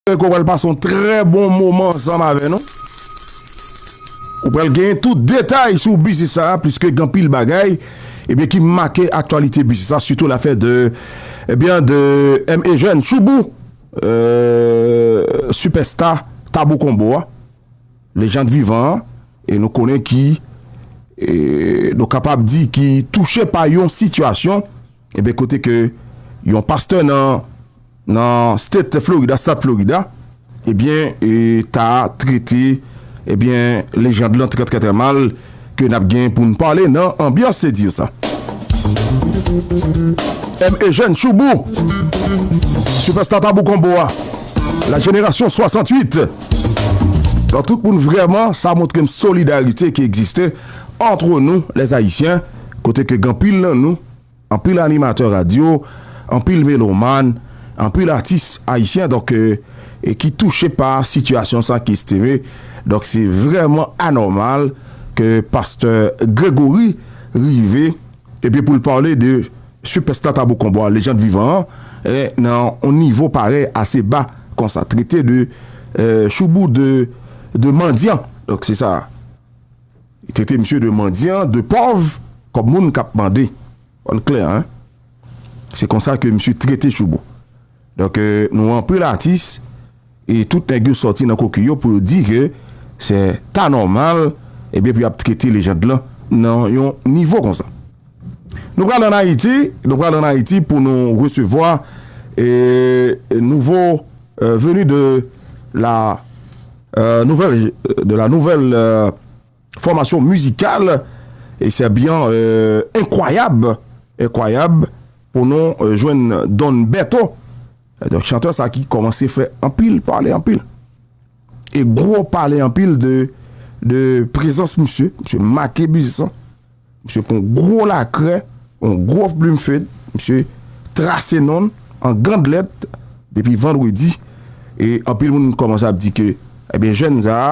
Mwen kwè wal pase yon trè bon moman ansanm avè nou. Ou pral genyen tout detay sou biznis sa a pliske gen anpil bagay ebyen ki make aktyalite biznis sa sitou lafè de ebyen de M. Eugène Choubou eee sipèsta Tabou Konbo a, lejand vivan an e nou konnen ki ee nou kapab di ki touche pa yon sitiyasyon. Ebyen kote ke yon pastè nan nan state Florida, stat Florida, ebyen ta trete ebyen lejand lan trè trè trè mal ke nap gen poun pale nan anbyans se dire sa. M. Eugène Choubou, Sipèsta Tabou Konbo a, la jenerasyon 68. Donk tout moun vrèman sa montrem solidarite ki egziste antre nou lèzayisyen kote ke gen anpil nan nou. Anpil animatè radyo, anpil melomàn, anpil atis ayisyen donk e ki touche pa sitiyasyon sa ki estime donk se vrèman anòmal ke pastè Gregory rive epi pou l pale de sipèsta Tabou Combat lejand vivan an nan yon nivo parèy ase ba konsa trete de choubou de mandyan donk se sa. Trete misye de mandyan, de pòv, kòm moun k ap mande. Fò l klè hein. Se konsa ke misye trete Choubo. Donk nou anpil atis e tout nèg yo sòti nan koki yo pou yo di ke se ta nòmal ebyen pou y ap trete lejand lan nan yon nivo konsa. Nou pral an Ayiti, nou pral an Ayiti pou nou resevwa nouvo veni de la nouvèl fòmasyon mizikal e sè byan enkwayab, enkwayab pou nou jwenn Don Beto, donk chantè sa ki kòmanse fè anpil pale anpil e gwo pale anpil de prezans misye, misye make biznis lan. Misye pran yon gwo lakrè, yon gwo plim fed, misye trase non l an gand lèt depi vandredi e anpil moun kòmanse ap di ke ebyen jèn sa a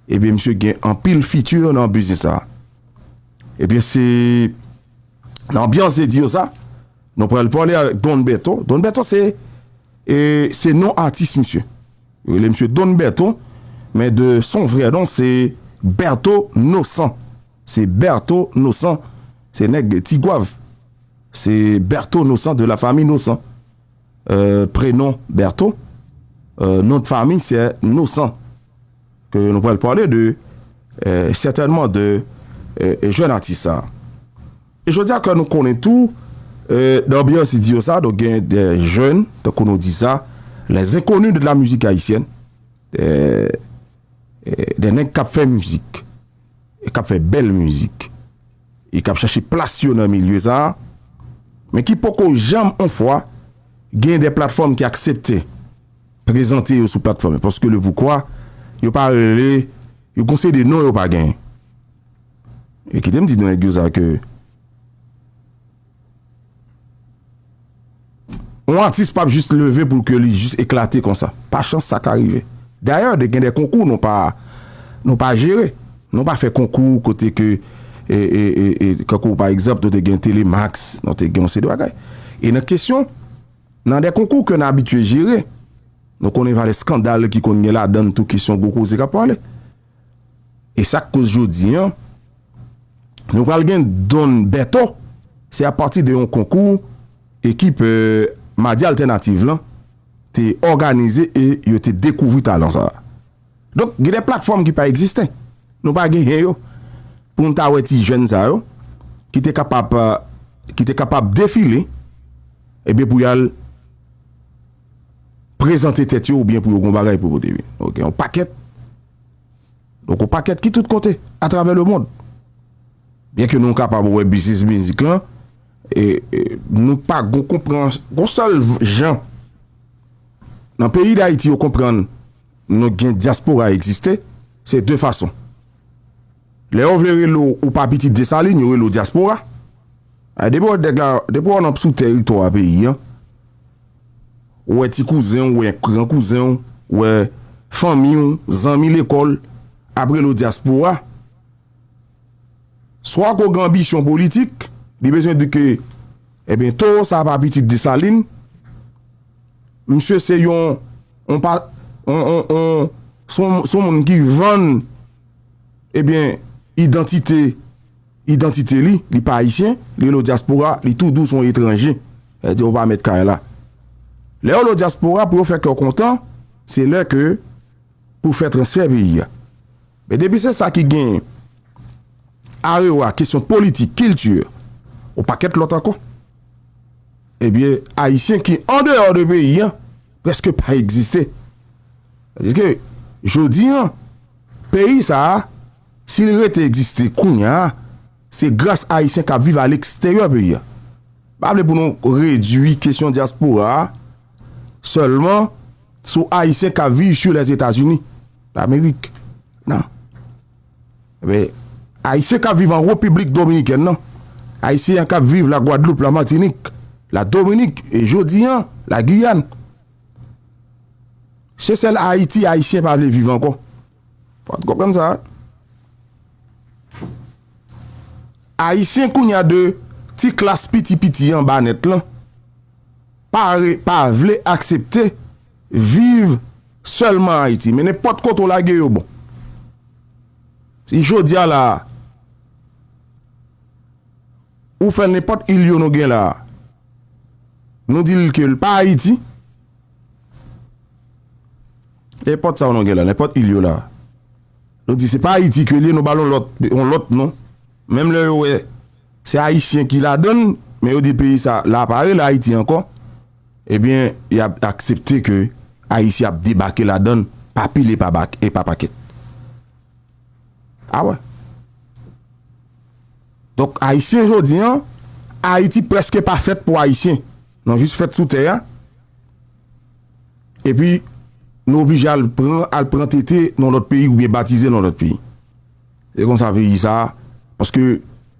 ebyen misye gen anpil fiti nan biznis sa a. Ebyen se nan anbyans de dire sa nou pral pale avèk Don Bèto. Don Bèto se se non atis misye. Yo rele misye Don Bèto men de son vrè non se Bèto Nosan. Se Bertho Nosan se nèg ti gwav se Bertho Nosan de la famille Nosan prenom Bertho nom de famille sè Nosan ke nou pral pale de sètènman de jèn atis sa e jodi a ke nou konnen tou nan anbyans idio sa donk gen de jèn tankou nou di sa les inconnus de la musique haïtienne de nèg kap fè mizik. k ap fè bèl mizik e k ap chache plas yo nan milye sa a, men ki poko janm on fwa gen de platfòm ki aksepte prezante yo sou platfòm yo, paske le poukwa yo pa rele yo gon seri de non yo pa gen. E kite m di nan nèg yo sa ke. Yon atis pap jis leve pou ke li jis eklate konsa. Pa chans sa ka rive. Dayè de gen de konkou nou pa nou pa jere. Nou pa fè konkou kote ke e e e kankou pa egzanp nou te gen telemax, nou te gen yon seri de bagay. E nan kesyon nan de konkou ke nan abitye jere nou konnen valè skandal ki konn gen ladann tou kesyon gwo koze kap pale. E sak koz jodi an nou pral gen Don Bertho se a pati de yon konkou ekip Madi Altènativ lan te òganize e yo te dekouvri talan sa. Donk gen de platfòm ki pa egziste. Nou pa genyen yo pou nou ta wè ti jèn sa yo ki te kapab ki te kapab defile ebyen pou yal. prezante tèt yo oubyen pou yo gen yon bagay pou yo pote vini. Donk gen yon pakèt, donk yon pakèt ki tout kote atravè lemond. Byen ke nou kapab wè biznis mizik lan, nou pa gen yon konprann, yon sèl jan nan peyi Dayiti yo konprann nou gen dyaspora egziste, se de fason. Lè yo vle rele w ou pa pitit Desalin, yo rele w dyaspora. Depi w nan sou teritwa peyi an, Ou wè ti kouzen w, ou wè gran kouzen w, ou wè fanmi w, zanmi lekòl, ap rele w dyaspora. Swa ke w gen anbisyon politik, li bezwen di ke, enben, towo sa a pa pitit Desalin, misye se yon, yon pa, yon, yon, yon, se yon moun ki vann, enben, idantite. Idantite li, li pa Ayisyen, li rele w dyaspora, li tou di w se yon etranje, sa vle di ou pa mèt kay la. Lè yo rele w dyaspora, pou yo fè kè w kontan, se lè ke pou fè transfè peyi a. Men depi se sa ki gen arewa kesyon politik, kilti, yon pakèt lòt ankò, ebyen Ayisyen ki andeyò de peyi a prèske pa egziste. Tandis ke jodi a, peyi sa a. Si li rete egziste kounya a, se gras Ayisyen k ap viv aleksteryè peyi a. M pa vle pou nou redui kesyon dyaspora a sèlman sou Ayisyen k ap viv sur les États-Unis d'Amérique, nan. Men, Ayisyen k ap viv an Repiblik Dominikèn nan, Ayisyen k ap viv La Gwadloup, La Matinik, La Dominik e jodi an La Guyane, se sèl Ayiti Ayisyen pa vle viv ankò. Wap konprann sa. Ayisyen kounya de ti klas piti piti anba nèt lan pa re pa vle aksepte viv sèlman Ayiti men nenpòt kote w lage yo bon. Si jodia la a ou fè nenpòt il yo nou gen la a nou di l ke l pa Ayiti. Nenpòt sa w nou gen la, nenpòt il yo la, nou di se pa Ayiti ke li ye, nou ba l yon lòt, yon lòt non. Menm lè yo wè se Ayisyen ki ladan l, men yo di peyi sa la pa rele Ayiti ankò, ebyen y ap aksepte ke Ayisyen ap debake ladan l pa pil e pa bak, e pa pakèt. A wè. Donk Ayisyen jodi an, Ayiti prèske pa fèt pou Ayisyen. Nou jis fèt sou tè a, epi nou oblije al pran, al pran tete nan yon lòt peyi oubyen batize nan yon lòt peyi. Se konsa peyi sa a, paske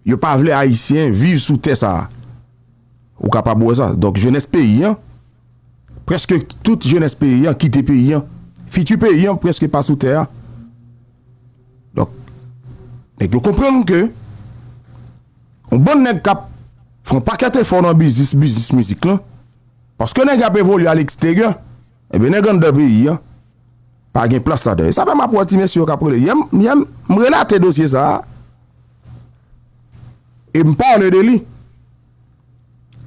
yo pa vle Ayisyen viv sou tè sa a. Ou kapab wè sa. Donk jenès peyi an, prèske tout jenès peyi an kite peyi an. Fiti peyi an prèske pa sou tè a. Donk, nèg yo konprann ke. Yon bann nèg k ap fè yon pakèt efò nan biznis biznis mizik lan, paske nèg y ap evolye a leksteryè, enben nèg anndan peyi an pa gen plas ladan e sa fè m ap wè ti mesye yo k ap rele yèm yèm, m relate dosye sa a e m pale de li,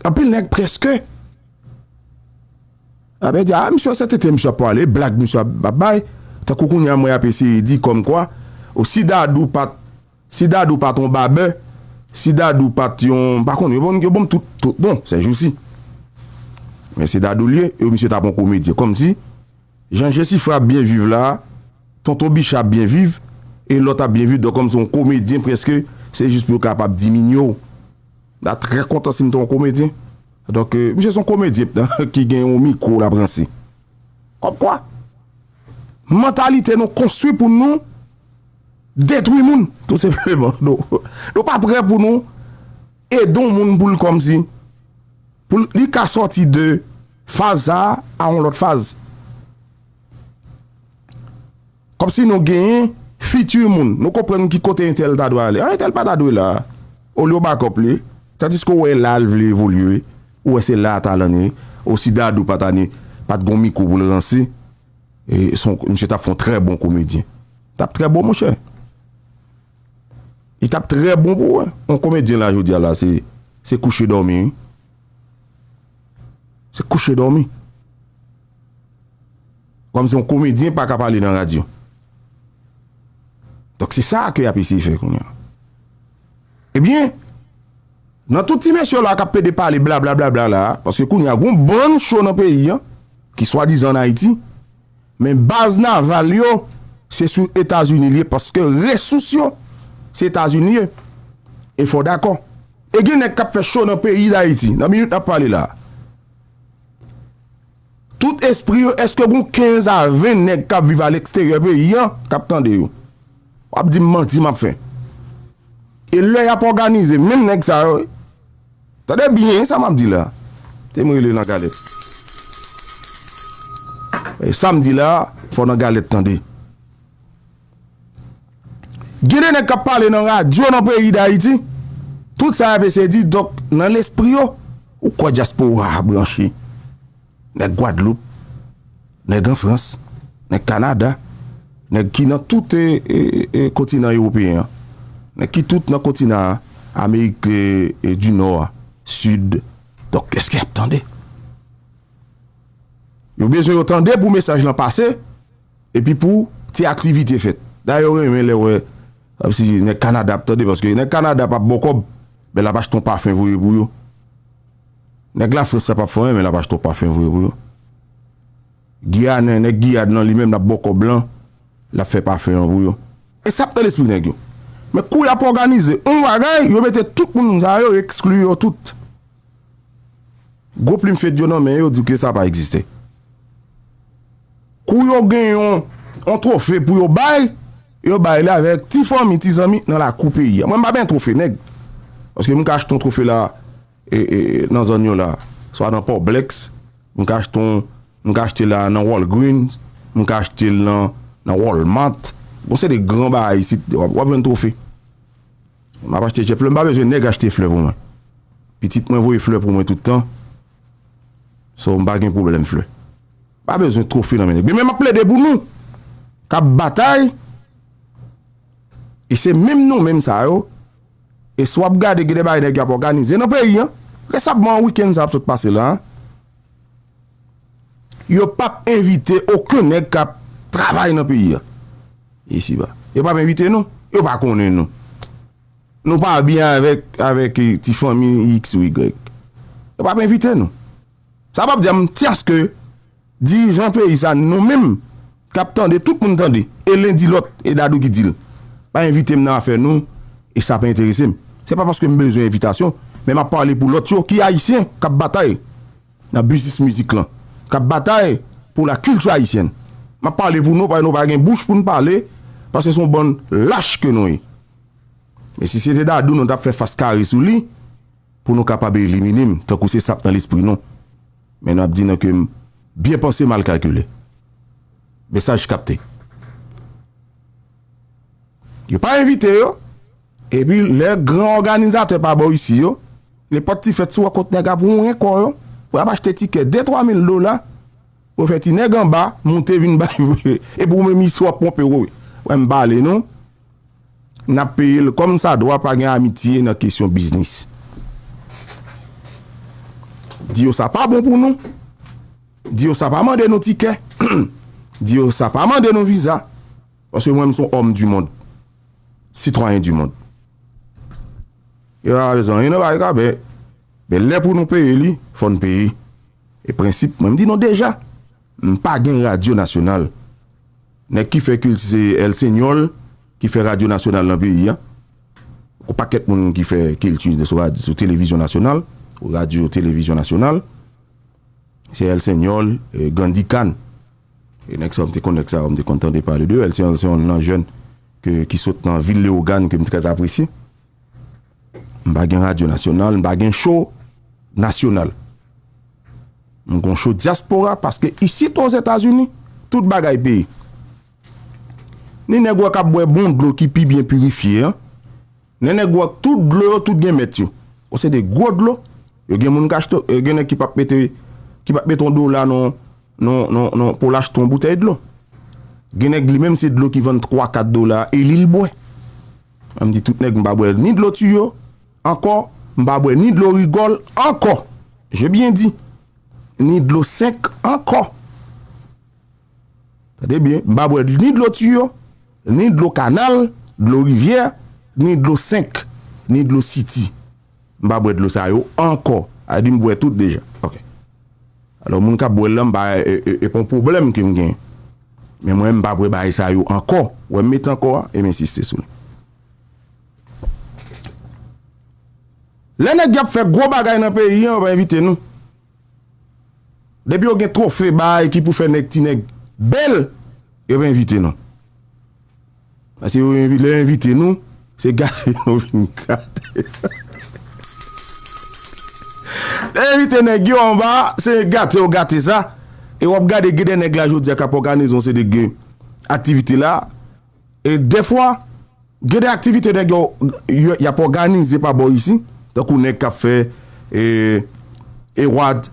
anpil nèg prèske ap di a misye se tenten misye ap pale, blag misye ap bay, tankou kounye a mwen ap eseye di kòmkwa o si Dadou pa t. Si Dadou pat yon babè, si Dadou pat yon, m pa konnen, yo banm tout tout non sèjousi. Men se Dadou l ye, yo misye tap yon komedyen. Kòmsi jan Jesifra ap byen viv la, Tonton Bicha ap byen viv e lòt ap byen viv donk kòmsi yon komedyen prèske se jis pou yo kapab diminye w. M ta trè kontan si m te yon komedyen. Donk misye se yon komedyen ptan ki gen yon mikwo l ap ranse. Kòmkwa, mantalite nou konstwi pou nou detwi moun, tou senpleman. Nou pa prè pou nou ede yon moun pou l kòmsi, pou li ka sòti de faz sa a yon lòt faz. Kòmsi nou genyen future moun. Nou konprann ki kote entèl ta dwe ale. Ah entèl pa ta dwe la. Olye w backup li. Tandiske w wè la l vle evolye. Ou wè se la talan li. Oh si Dadou pa ta ni pa t gon mikwo pou l ranse. E son misye t ap fon trè bon komedyen. T ap trè bon monchè. Li t ap trè bon pou wè. On komedyen la jodi a la se se kouche dòmi wi. Se kouche dòmi. Kòmsi yon komedyen pa ka pale nan radyo. Donk se sa ke y ap eseye fè kounye an. Ebyen, nan tout ti mesye la k ap pede pale blablablabla la a, paske kounye a gen yon bann cho nan peyi an, ki swadizan ann Ayiti, men baz naval yo se sou Etazini li ye paske resous yo se Etazini ye. E fò w dakò. E gen nèg k ap fè cho nan peyi Dayiti, nan minit n ap pale la a. Tout espri yo eske gon 15 a 20 nèg kap viv aleksteryè peyi an kap tande yo wap dim manti map fè e lè yap òganize menm nèg sa yo tande byen sa map di la tem rele nan galèt sam di la fò nan galèt tande. Gen de nèg k ap pale nan radyo nan peyi Dayiti, tout sa y ap eseye di, donk nan lespri yo, ou kwè dyaspora a branche? Nèg Gwadloup, nèg an Frans, nèg Kanada, nèg ki nan tout kontinan ewopeyen an, nèg ki tout nan kontinan Amerik di Nò a, Sid, donk èske y ap tande? Yo bezwen yo tande pou mesaj lan pase. Epi pou ti aktivite fèt. Dayè yo renmen lè wè si nèg Kanada ap tande paske nèg Kanada pap ba w kòb men l ap achte yon pafen voye pou yo. Nèg Lafrans la pap fè w anyen men l ap achte yon pafen voye pou yo. Giyanen, nèg Giyàn lan li menm l ap ba w kòb lan, l ap fè pafen an pou yo. E sa ap nan lespri nèg yo. Men kou y ap òganize yon bagay, yo mete tout moun sa yo, yo ekskli yo tout. Gwo plim fedyo nan men yo di w ke sa pa egziste. Kou yo gen yon twofe pou yo bay, yo bay li avèk ti fanmi, ti zanmi nan lakou peyi a. Mwen m pa benyen twofe nèg. Paske m ka achte yon twofe la nan zòn yo la, swa nan Poblex, m ka achte yon, m ka achte la nan Walgreens, m ka achte l nan Walmart. Gon seri de gran bagay isit, w ap jwenn twofe. M ap achte je flè. M pa bezwen nèg achte flè pou mwen. Pitit mwen voye flè pou mwen tout tan. So m pa gen pwoblèm flè. M pa bezwen twofe nan men nèg. Men m ap plede pou nou k ap batay e se menm nou menm sa yo e si w ap gade gen de bagay nèg yo ap òganize nan peyi an. Resabman wikenn sa ap sot pase la a. Yo pap envite oken nèg kap travay nan peyi a. Isi ba. Yo pap envite nou. Yo pa konnen nou. Nou pa byen avèk, avèk ti fanmi iks ou igrèk. Yo pap envite nou. Sa pap di a m ti aske dirijan peyi sa nou menm Kap tande tout moun tande e len di lòt e dadou ki dil pa envitem nan afè nou e sa pa enteresem se pa paskem bezwen envitasyon men map pale pou lòt yo ki ayisyen kap batay nan biznis mizik lan kap batay pou la kilti ayisyèn map pale pou nou paske nou pa gen bouch poun pale paske son bann lach ke nou ye men si se te dadou nou tap fè fas kare sou li pou nou kapab elimine'm tankou se sap nan lespri nou. Men nou ap di nan ke m byen panse mal kalkile. Mesaj kapte. Yo pa envite yo. Epi lè gran òganizatè pa bò isi yo, nenpòt ti fèt si w wè kot nèg ap wonyen kò yo, pou y ap achte tikè de twa mil dola, pou yo fè ti nèg anba moute vin bay. Epi ou menm isi w ap ponpe w. Wè m pale nou. Nap peye l kòm sa dwa pa gen amitye nan kesyon biznis. Di yo sa pa bon pou nou. Di yo sa pa mande nou tikè. Di yo sa pa mande nou viza. Paske mwen m son òm di mond. Sitwayen di mond. Yo pa pale zanyen nan bagay sa men men lè pou nou peye li fò n peye. E prensip mwen m di nou deja. M pa gen radyo nasyonal. Nèg ki fè kilti se El Señor ki fè radyo nasyonal nan peyi a. Gwo pakèt moun ki fè kilti sou televizyon nasyonal, radyo televizyon nasyonal. Se El Señor, Gandhi Khan. E nèg sa yo m te konn nèg sa yo, m te konn tande pale de yo. El Señor se yon nan jèn ki sot nan vil Leogane ke m trè apresye. M pa gen radyo nasyonal, m pa gen cho nasyonal. M gon cho dyaspora paske isit o Zetazini, tout bagay peye. Ni nèg ou a k ap bwè bon dlo ki pi byen pirifye an, ni nèg ou a k tout dlo yo tout gen mèt yo. O se de gwo dlo, yo gen moun k achte, gen nèg ki p ap mete, ki p ap mete yon dola nan, nan, nan, nan pou l achte yon boutèy dlo. Gen nèg li menm se dlo ki vann 3, 4 dola e li l bwè. An m di tout nèg m pa bwè ni dlo tiyo ankò, m pa bwè ni dlo rigòl ankò, je byen di, ni dlo senk ankò. Tande byen, m pa bwè ni dlo tiyo, ni dlo kanal, dlo rivyè, ni dlo senk, ni dlo siti. M pa bwè dlo sa yo ankò. A di m bwè tout deja. Ok. Alò moun k ap bwè l lan m pa e pa yon pwoblèm ke m gen. Men mwen m pa bwè bagay sa yo ankò. Wè m met ankò a e m ensiste sou li. Lè nèg y ap fè gwo bagay nan peyi an yo pa envite nou. Depi yo gen trofe bay ki pou fè nèg ti nèg bèl yo pa envite nou. Paske yo lè yo envite nou se gate nou vin gate. Lè yo envite nèg yo anba se gate yo gate sa e wap gade gen de nèg la jodi a kap òganize yon seri de aktivite la. E dèfwa, gen de aktivite nèg yo y ap òganize pa bò isi, tankou nèg k ap fè Ewad,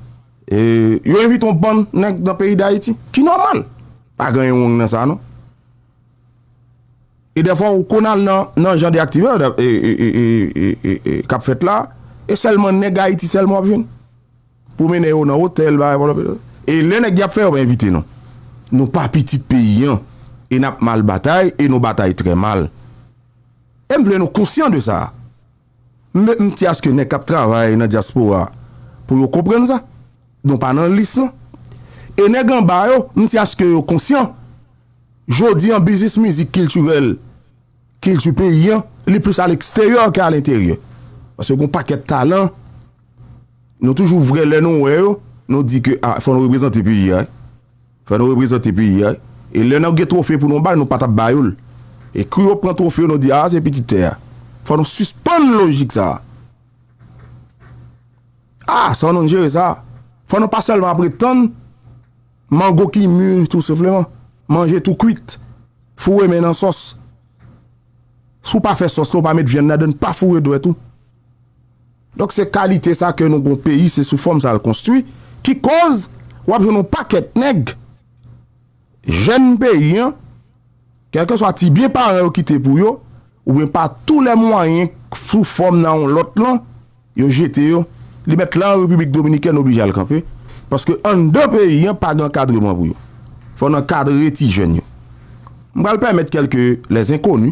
yo envite yon bann nèg nan peyi Dayiti, ki nòmal. Pa gen anyen wrong nan sa non. E dèfwa ou konn al nan jan de aktivite k ap fèt la, e sèlman nèg Ayiti sèlman w ap jwenn. Pou mennen yo nan otèl bagay pa lòpitò. E lè nèg yap fè yo pa envite nou. Nou pa pitit peyi an e nap mal batay e nou batay trè mal. E m vle nou konsyan de sa. M met m ti aske nèg kap travay nan dyaspora pou yo konprann sa. Nou pa nan lis lan. E nèg anba yo, m ti aske yo konsyan. Jodi an biznis mizik kiltirèl, kilti peyi an, li plis a leksteryè ke a lenteryè. Paske gon pakèt talan Nou toujou vrè lè nou wè yo, nou di ke a, fò nou reprezante peyi a wi. Fò nou reprezante peyi a wi. E lè nou gen twofe pou nou bay, nou pa t ap ba yo l. E kou yo pran twofe yo, nou di, a se pitit tè a. Fò nou sispann lojik sa a. A, se yon nou jere sa. Fò nou pa sèlman ap ret tann mango ki mi tou senpleman. Manje tou kwit. Foure men nan sòs. Si w pa fè sòs la, w pa met vyann ladann, pa foure dwèt ou. Donk se kalite sa ke nou gon peyi se sou fòm sa l konstwi ki koz w ap jwenn yon pakèt nèg jèn peyi an kèlkeswa ti byen paran yo kite pou yo oubyen pa tou lè mwayen sou fòm nan yon lòt lan yo jete yo li mèt lan repiblik dominikèn oblije al kanpe paske anndan peyi an pa gen ankadreman pou yo fò n ankadre ti jèn yo m pral pèmèt kèlke lè zenkoni.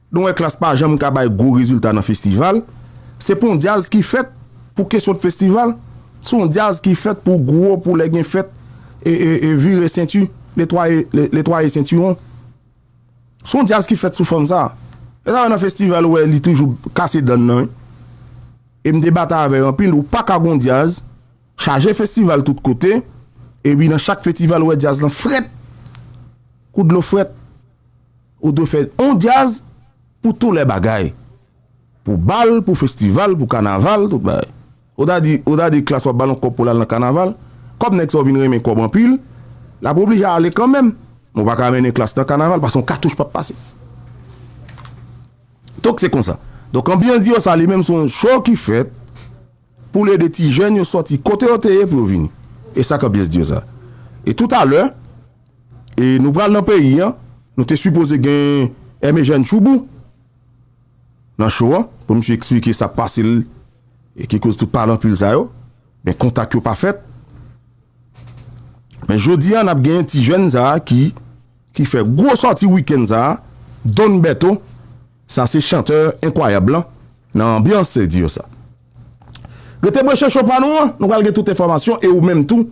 Nou wè klass pa janm ka bay gwo rezilta nan festival, se pa yon djazz ki fèt pou kesyon de festival, se yon djazz ki fèt pou gwo pou lè gen fèt e vire senti, netwaye netwaye sentiwon. Se yon djazz ki fèt sou fòm sa. Se sa fè nan festival ou wè li toujou kase dan l nan wi. E m te batay avè yo anpil, ou pa ka gen yon djazz chaje festival tout kote epi nan chak fetival ou wè djazz lan frèt kou dlo frèt. Ou dwe fè yon djaz pou tou lè bagay. Pou bal, pou festival, pou kanaval, tout bagay. Ou ta di, ou ta di Klass wap bal yon kòb pou lal nan kanaval? Kòm nèg sa yo vin renmen kòb anpil, lap oblije ale kanmenm. Men w pa ka mennen Klass nan kanaval paske yon katouch pap pase. Donk se konsa. Donk anbyans Dior sa li menm se yon show ki fèt pou l ede ti jèn yo sòti kote yo te ye pou yo vini. E sa k anbyans Dior sa. E toutalè, E nou pral nan peyi an, nou te sipoze gen Aimé Jeune Choubou nan show an pou misye eksplike sa k pase l e ki koz tout palanpul sa yo, men kontak yo pa fèt. Men jodi a n ap gen ti jèn sa ki ki fè gwo sòti wikenn sa, Don Bertho, sa se chantè enkwayab lan nan anbyans se di yo sa. Rete branche show pa nou an, nou pral gen tout enfòmasyon e ou menm tou